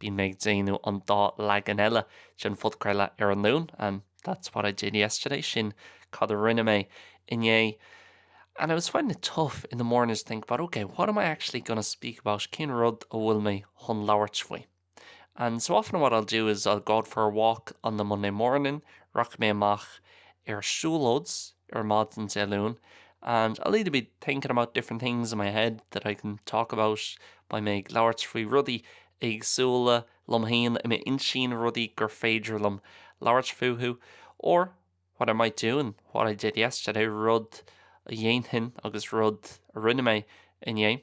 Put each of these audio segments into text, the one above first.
Bím ag déanamh an dá leagan eile den phodchraoladh ar an Luan, and that's what I did yesterday, sin cad a rinne mé inné. And I was finding it tough in the morning to think about, okay, what am I actually going to speak about, cén rud a bhfuil mé chun labhairt faoi. And so often what I'll do is I'll go out for a walk on the Monday morning, rachaidh mé amach ar siúlóid, ar maidin Dé Luain and I'll either be thinking about different things in my head that I can talk about beidh mé ag labhairt faoi rudaí éagsúla liom féin i m'intinn, rudaí gur féidir liom labhairt fúthu or what I might do and what I did yesterday, rud a dhéanfainn agus rud a rinne mé inné.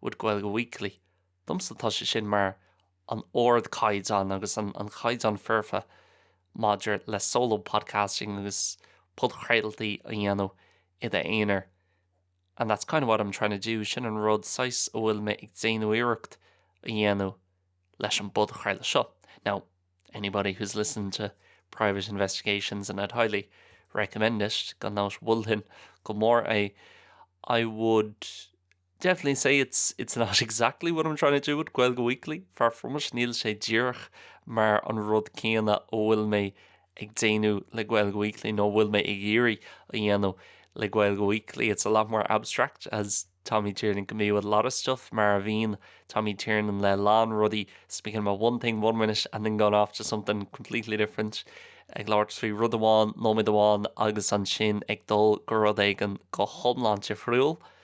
with Gaeilge Weekly. Domsa tá sé sin mar an ardchaighdeán agus an caighdeán foirfe maidir le solo podcasting agus podchraoltaí a dhéanamh i d'aonar and that's kind of what I'm trying to do, sin an rud saghas a bhfuil mé ag déanamh iarracht a dhéanamh leis an bpodchraoladh seo. Now, anybody who's listened to Private Investigations and I'd highly recommend it, gan dabht mholfainn go mór é, I would Definitely say it's not exactly what I'm trying to do with Gaeilge Weekly, far from it, níl sé díreach mar an rud céanna a bhfuil mé ag déanamh le Gaeilge Weekly nó a bhfuil mé ag iarraidh a dhéanamh le Gaeilge Weekly. It's a lot more abstract, as Tommy Tiernan can be with a lot of stuff, mar a bhíonn Tommy Tiernan le a lán rudaí, speaking about one thing one minute and then going off to something completely different, ag labhairt faoi rud amháin nóiméad amháin agus ansin ag dul go rud éigin go hiomlán difriúil.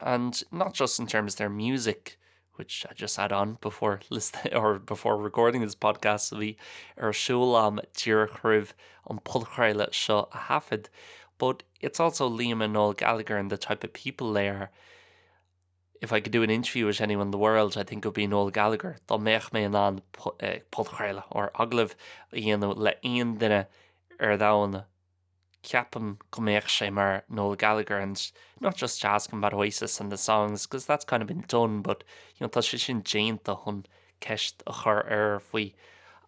and not just in terms of their music, which I just had on before listening or before recording this podcast a bhí ar siúl am díreach roimh an podchraoladh seo a thaifead, but it's also Liam and Noel Gallagher and the type of people they are. If I could do an interview with anyone in the world, I think it would be Noel Gallagher. Dá mbeadh mé in ann eh, podchraoladh or agallamh a dhéanamh le aon duine ar domhan, ceapaim go mbeadh sé mar Noel Gallagher and not just asking about Oasis and the songs because that's kind of been done but you know tá sé sin déanta chun ceist a chur air faoi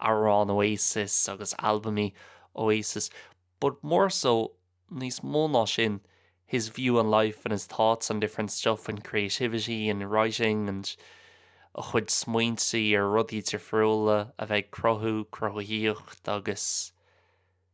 amhráin Oasis agus albaimí Oasis but more so níos mó ná sin his view on life and his thoughts on different stuff and creativity and writing and a chuid smaointe ar rudaí difriúla a bheith ag cruthú, cruthaitheacht agus.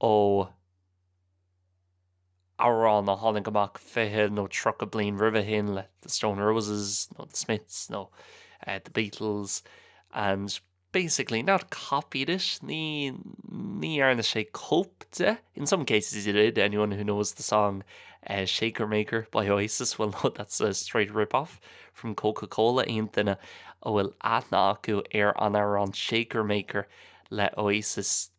ó amhrán a tháinig amach fiche nó tríocha bliain roimhe sin le The Stone Roses nó The Smiths nó The Beatles and basically not copied it, ní ní dhearna sé cóip de, in some cases he did, anyone who knows the song Shaker Maker by Oasis will know that's a straight rip-off from Coca-Cola aon duine a bhfuil aithne acu ar an amhrán Shaker Maker le Oasis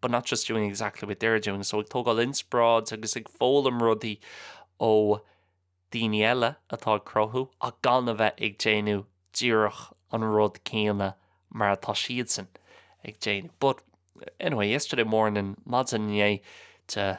but not just doing exactly what they're doing so ag tógáil inspioráid agus ag foghlaim rudaí ó daoine eile atá ag cruthú ach gan a bheith ag déanamh díreach an rud céanna mar atá siadsan ag déanamh. But anyway, yesterday morning, maidin inné, the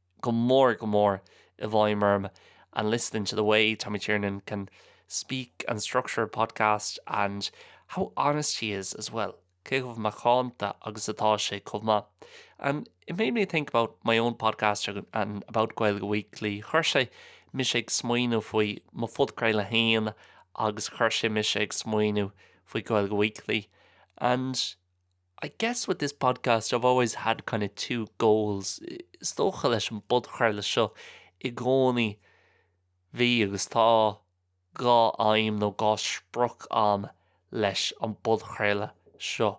go mór go mór i bhfeidhm orm and listening to the way Tommy Tiernan can speak and structure a podcast and how honest he is as well cé chomh macánta agus atá sé chomh maith and it made me think about my own podcast and about Gaeilge Weekly chuir sé mise ag smaoineamh faoi mo phodchraoladh féin agus chuir sé mise ag smaoineamh faoi Gaeilge Weekly and I guess with this podcast I've always had kind of two goals. Is dócha leis an bpodchraoladh seo i gcónaí bhí agus tá dhá aidhm nó dhá sprioc agam leis an bpodchraoladh seo.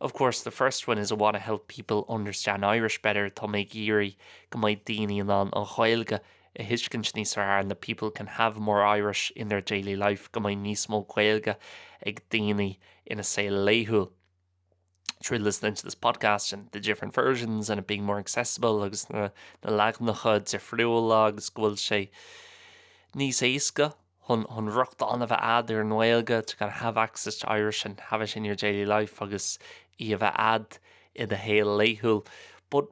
Of course the first one is I want to help people understand Irish better, tá mé ag iarraidh go mbeidh daoine in ann an Ghaeilge a thuiscint níos fearr and that people can have more Irish in their daily life go mbeidh níos mó Gaeilge ag daoine ina saol laethúil through listening to this podcast and the different versions and it being more accessible agus na leaganacha difriúla agus go bhfuil sé níos éasca chun rochtain a bheith ad ar an nGaeilge to kind of have access to Irish and have it in your daily life agus í a bheith ad i do shaol laethúil but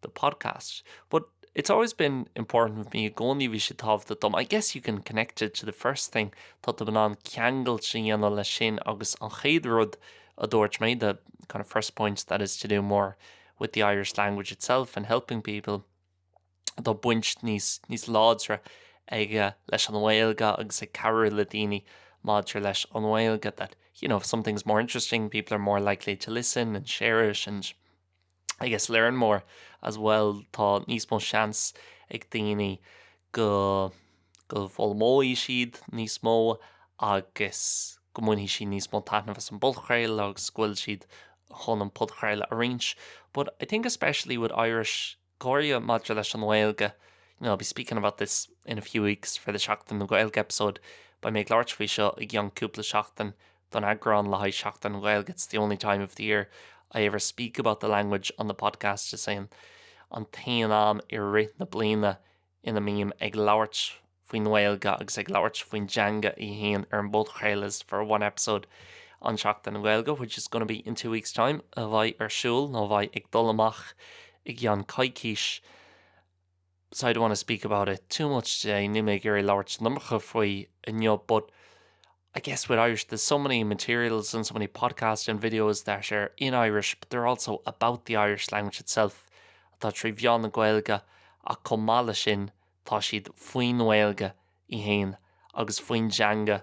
the podcast but it's always been important for me i gcónaí bhí sé tábhachtach dom I guess you can connect it to the first thing tá tú in ann ceangailt a dhéanamh leis sin agus an chéad rud a dúirt mé the kind of first point that is to do more with the Irish language itself and helping people tá baint níos láidre aige leis an Ghaeilge agus ag cabhrú le daoine maidir leis an Ghaeilge that you know if something's more interesting people are more likely to listen and share it and I guess learn more as well tá níos mó seans ag daoine go bhfoghlaimeoidh siad níos mó agus go mbainfidh siad níos mó taitneamh as an bpodchraoladh agus go bhfuil siad chun an podchraoladh a roinnt but I think especially with Irish go háirithe maidir leis an nGaeilge you know I'll be speaking about this in a few weeks for the Seachtain na Gaeilge episode beidh mé ag labhairt faoi seo i gceann cúpla seachtain don eagrán le haghaidh Seachtain na Gaeilge It's the only time of the year I ever speak about the language on the podcast, is é an t-aon am i rith na bliana ina mbím ag labhairt faoin nGaeilge agus ag labhairt faoin dteanga í féin ar an bpodchraoladh is for one episode on Seachtain na Gaeilge which is gonna be in two weeks time a bheidh ar siúl nó a bheidh ag dul amach i gceann coicís so I don't want to speak about it too much today, níl mé ag iarraidh labhairt an iomarca faoi inniu, but I guess with Irish there's so many materials and so many podcasts and videos that are in Irish but they're also about the Irish language itself atá trí mheán na Gaeilge ach chomh maith leis sin tá siad faoin nGaeilge í féin agus faoin dteanga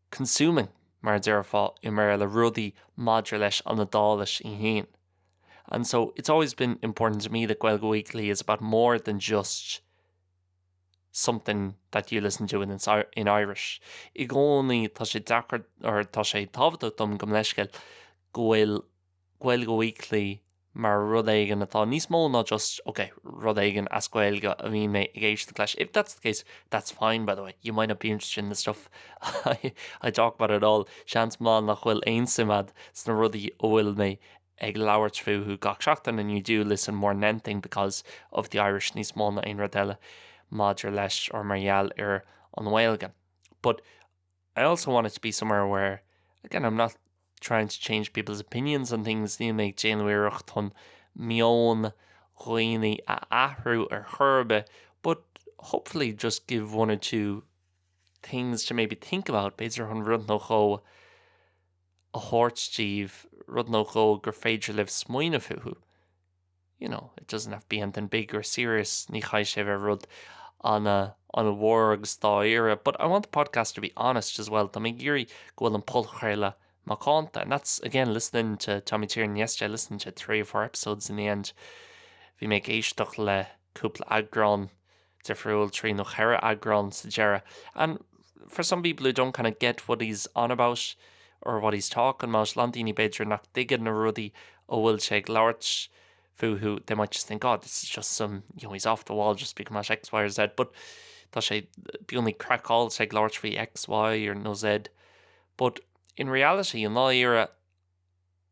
consuming, mar a déarfá i mBéarla, rudaí maidir leis an Iodáilis í féin. And so, it's always been important to me that Gaeilge Weekly is about more than just something that you listen to in Irish. I gcónaí, tá sé deacair, or tá sé tábhachtach dom gabh mo leithscéal, go bhfuil Gaeilge Weekly mar rud éigin atá níos mó ná just, ok, rud éigin as Gaeilge a bhíonn mé ag éisteacht leis, if that's the case, that's fine, by the way, you might not be interested in the stuff I talk about at all, seans mhaith nach bhfuil aon suim agat sna rudaí a bhfuil mé ag labhairt fúthu gach seachtain, and you do listen more than anything because of the Irish, níos mó ná aon rud eile maidir leis or mar gheall ar an nGaeilge. But I also want it to be somewhere where, again, I'm not trying to change people's opinions on things, níl mé ag déanamh iarracht chun meon dhaoine a athrú ar chor ar bith, but hopefully just give one or two things to maybe think about, b'fhéidir chun rud nó dhó a thabhairt daoibh, rud nó dhó gur féidir libh smaoineamh fúthu. you know, it doesn't have to be anything big or serious, ní chaithfidh sé bheith rud an- an-mhór agus dáiríre, but I want the podcast to be honest as well, tá mé ag iarraidh go bhfuil an podchraoladh macánta, and that's, again, listening to Tommy Tiernan yesterday, I listened to three or four episodes in the end, bhí mé ag éisteacht le cúpla eagrán. difriúil, trí nó cheithre eagrán sa deireadh. And for some people who don't kind of get what he's on about, or what he's talking about, a lán daoine, b'fhéidir, nach dtuigeann na rudaí a bhfuil sé ag labhairt fúthu, they might just think, oh, this is just some, you know, he's off the wall just speaking about X, Y or Z, but tá sé beagnach craiceáilte ag labhairt faoi X, Y or nó Z. But in reality, i ndáiríre,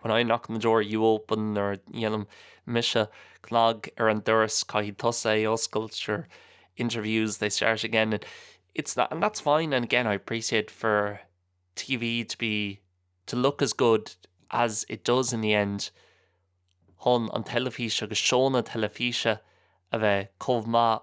When I knock in the door, you open, nuair a dhéanaim mise cnag ar an doras, caithfidh tusa é a oscailt, or interviews, they start again, and it's that, and that's fine, and again I appreciate for TV to be, to look as good as it does in the end, chun an teilifís agus seónna teilifíse a bheith chomh maith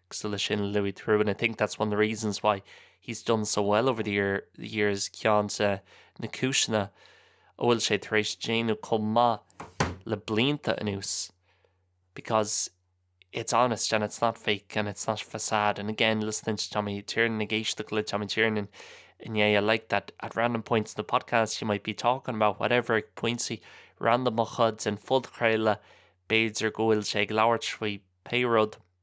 cosúil sin Louis Theroux, I think that's one of the reasons why he's done so well over the years, ceann de na cúiseanna a bhfuil sé tar éis déanamh chomh maith le blianta anuas, because it's honest and it's not fake and it's not facade. And again, listening to Tommy Tiernan, ag éisteacht le Tommy Tiernan inné, I like that at random points in the podcast you might be talking about whatever, ag pointí randamacha den phodchraoladh, b'fhéidir go bhfuil sé ag labhairt faoi pé rud,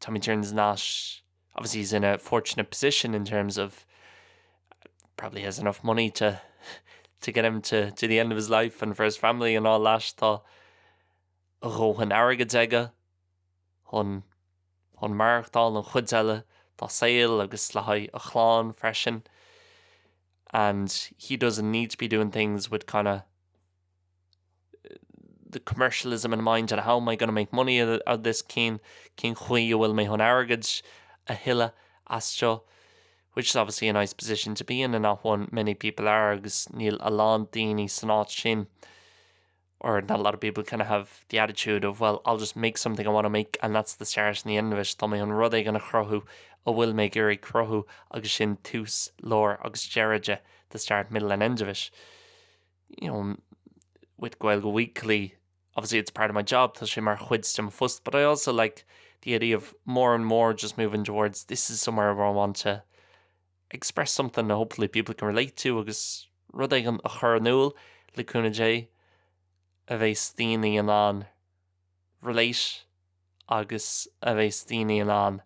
Tommy Tiernan is not, obviously he's in a fortunate position in terms of probably has enough money to to get him to to the end of his life and for his family and all that, tá a dhóthain airgid aige chun chun maireachtáil an chuid eile dá saol agus le haghaidh a chlann freisin and he doesn't need to be doing things with kind of the commercialism in mind and how am I going to make money out of this cén cén chaoi a bhfuil mé chun airgead a thuilleadh as seo which is obviously a nice position to be in and not one many people are agus níl a lán daoine san áit sin or not a lot of people kind of have the attitude of well I'll just make something I want to make and that's the start and the end of it tá mé chun rud éigin a chruthú a bhfuil mé ag iarraidh cruthú agus sin tús, lár agus deireadh de the start, middle and end of it. you know, with Gaeilge Weekly, obviously it's part of my job, tá sé mar chuid de mo phost, but I also like the idea of more and more just moving towards this is somewhere where I want to express something that hopefully people can relate to agus rud éigin a chur in iúl le cúnamh Dé a bheas daoine in ann relate agus a bheas daoine in ann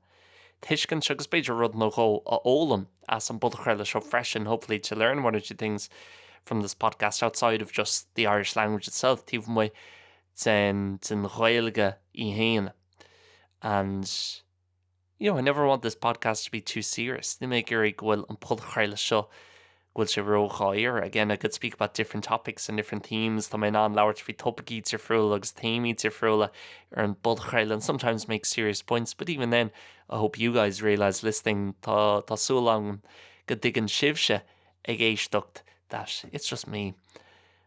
tuiscint agus b'fhéidir rud nó dhó a fhoghlaim as an bpodchraoladh seo freisin, hopefully to learn one or two things from this podcast outside of just the Irish language itself, taobh amuigh de den Ghaeilge í féin. And. You know, I never want this podcast to be too serious. Níl mé ag iarraidh go bhfuil an podchraoladh seo go bhfuil sé ródháiríre. Again, I could speak about different topics and different themes. Tá mé in ann labhairt faoi topaicí difriúla agus téamaí difriúla ar an podchraoladh and sometimes make serious points, but even then, I hope you guys realise listening tá súil agam go dtuigeann sibhse ag éisteacht that it's just me.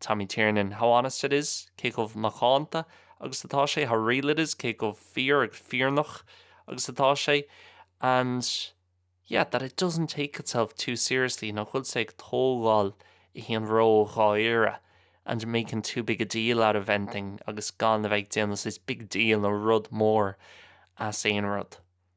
Tommy Tiernan, How honest it is, cé chomh macánta agus atá sé, how real it is, cé chomh fíor agus fírinneach agus atá sé, and, yeah, that it doesn't take itself too seriously, nach bhfuil sé ag tógáil é fhéin ró-dháiríre, and making too big a deal out of anything, agus gan a bheith ag déanamh saghas big deal nó rud mór as aon rud.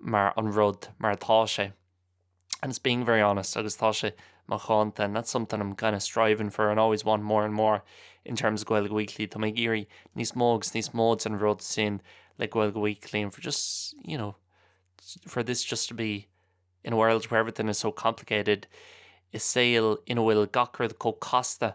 mar an rud mar atá sé and it's being very honest agus tá sé macánta and that's something I'm kind of striving for and always want more and more in terms of Gaeilge Weekly Tá mé ag iarraidh níos mó agus níos mó den rud sin le Gaeilge Weekly and for just you know for this just to be in a world where everything is so complicated is saol ina bhfuil gach rud chomh casta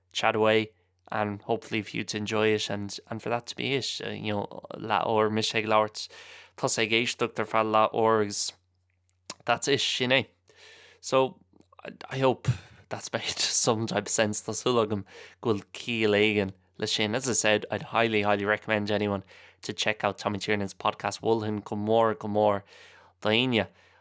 chat away and hopefully for you to enjoy it and and for that to be it you know leathuair mise ag labhairt tusa ag éisteacht ar feadh leathuair agus that's it sin é so I hope that's made some type of sense tá súil agam go bhfuil ciall éigin le sin as I said I'd highly highly recommend anyone to check out Tommy Tiernan's podcast mholfainn go mór go mór d'éinne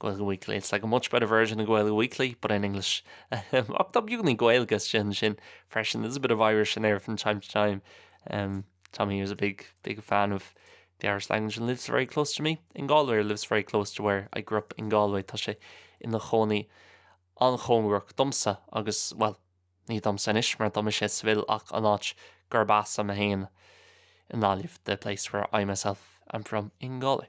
Gaeilge Weekly, It's like a much better version of Gaeilge Weekly, but in English. Ach tá beagáinín Gaeilge is déanaí sin freisin, there's a bit of Irish in there from time to time. Um, Tommy here is a big, big fan of the Irish language and lives very close to me in Galway, or lives very close to where I grew up in Galway. Tá sé ina chónaí an-chóngarach domsa agus, bhuel, ní domsa anois mar tá mise i Seville ach an áit gurb as am é féin i nGaillimh, the place where I myself am from in Galway.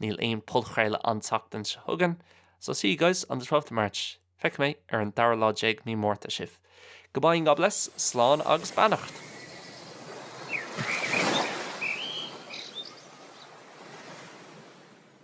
Níl aon podchraoladh an tseachtain seo chugainn, so see you guys on the twelfth of March. Feicfidh mé ar an dara lá déag Mí Márta sibh. Goodbye and God bless, slán agus beannacht!